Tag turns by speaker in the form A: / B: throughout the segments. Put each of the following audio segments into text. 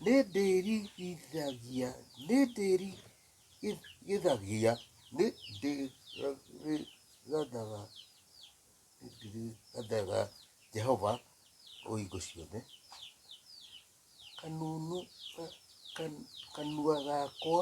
A: nĩndĩrigithagia nĩndĩrigithagia nĩndĩrathaga nĩndĩrathaga Jehova o hingo ciothe kanunu ka- kan- kanua gakwa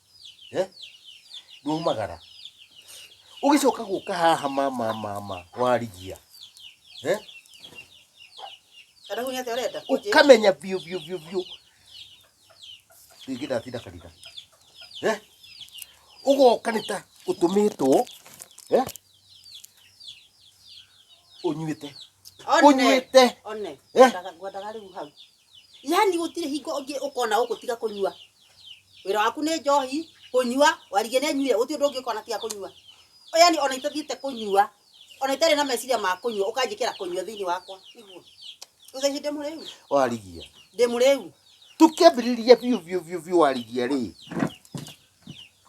A: Eh? Ndumagara. Ũgĩcoka gũka haha mama mama warigia. Eh? Kana hunyate urenda kunjira. Ukamenya biũ biũ biũ biũ. Rĩngĩ ndatinda kanitha. Eh? Ũgoka nĩ ta ũtũmĩtwo. Eh? Ũnyuĩte. One. Ũnyuĩte. One. Eh? Ngwataga rĩu hau. yani gutire hingo ungi ukona guku tiga kunyua wira waku ni njohi kunyua warige ni anyuire guti undu ungi ukona tiga kunyua yani ona itathiite kunyua ona itari na meciria ma kunyua ukanjikira kunyua thiini wakwa niguo uthaici ndi muriu warigia ndi muriu tukĩambĩrĩria biũ biũ biũ biũ warigia rĩ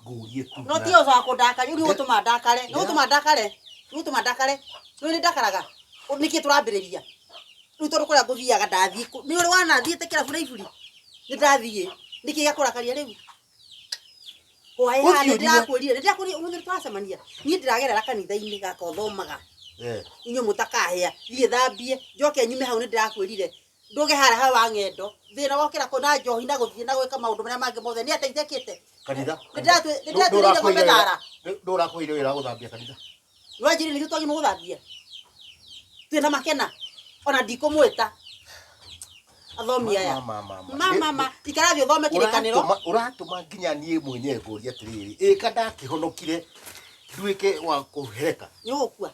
A: ngũrie kuga no ti ũhoro wa kũndaka nĩ ũgũtũma ndakare nĩ ũgũtũma ndakare nĩ ũgũtũma ndakare nĩ ũrĩ ndakaraga Ũ- nĩkĩ tũrambĩrĩria rĩu tondũ kũrĩa ngũthiaga ndathiĩ kũ- nĩ ũrĩ wana thiĩte kĩrabu na iburi nĩ ndathiĩ nĩkĩ gĩakũrakaria rĩu hwaĩ haha nĩ Ũthiũrirwo. ndĩrakwĩrire nĩ ndĩrakwĩrire ũmũthĩ tũracemania niĩ ndĩragerera kanitha-inĩ gaka ũthomaga Eh, inyuĩ mũtakahĩa thiĩ thambie njoke nyume hau nĩ ndĩrakwĩrire ndũge haraha wa ng'endo thĩna wokĩra kũ na njohi na gũthiĩ na gwĩka maũndũ marĩa mangĩ mothe nĩ ateithĩkĩte kanitha Nĩndĩratwĩ- nĩndĩratwĩrĩire ng'ombe thara. ndũrakũire wĩra wa gũthambia kanitha nwanjĩrĩ nĩkĩ twagĩ mũgũthambia twĩna makena ona ndikũmwĩta athomi aya Mama, mama. ma mama ikarathi ũthome kĩrĩkanĩro Ũratũma- ũratũma nginya niĩ mwenye ngũria atĩrĩrĩ ĩka ndakĩhonokire nduĩke wa kũhereka nĩ ũgũkua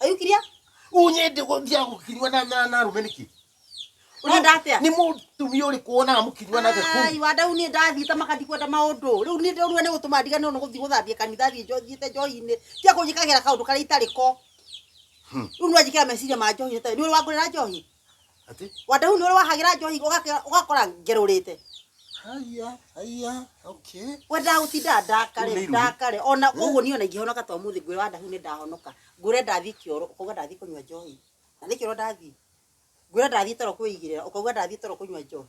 A: Are you clear? Unyende gũthia gũkinywa na na na rume niki. Ũrenda atĩa? Ni mutumia uri kuona mukinywa na the Ai, ku. wanda u ni ndathi ta makandi kwenda maundu. Riu ni ndurua ni gutuma ndigane no guthi guthambia kanitha thi njo thiete njohinĩ. Tia kunjikagira kaundu kari itari ko. Riu ni wanjikira meciria ma njohi ta ni uri wangurira njohi. Atĩ? Wandau nĩ ũrĩ wahagĩra njohi ũgake- ũgakora ngerũrĩte. Haiya, haiya, okay. We ndagũtinda ndakare, Rĩu nĩ irumi. ndakare. Ona ũguo niĩ ona ingĩhonoka ta ũmũthĩ ngwĩra Wandau nĩ ndahonoka. Ngwĩre ndathiĩ kĩoro, ũkauga ndathiĩ kũnyua njohi. Na nĩ kĩoro ndathiĩ. Ngwĩre ndathiĩ toro kwĩigĩrĩra, ũkauga ndathiĩ toro kũnyua njohi.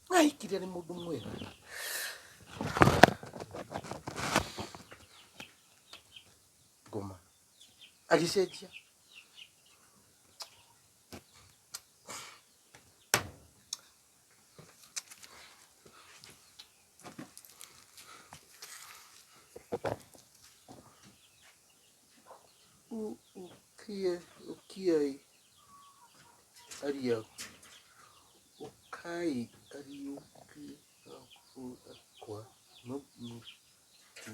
A: Naikiria nĩ mũndũ mwega. Ngoma. Agĩcenjia. Ukiai, ukiai. Ariyo. Ũkai Kariũki gakũũra kwa mũthamaki.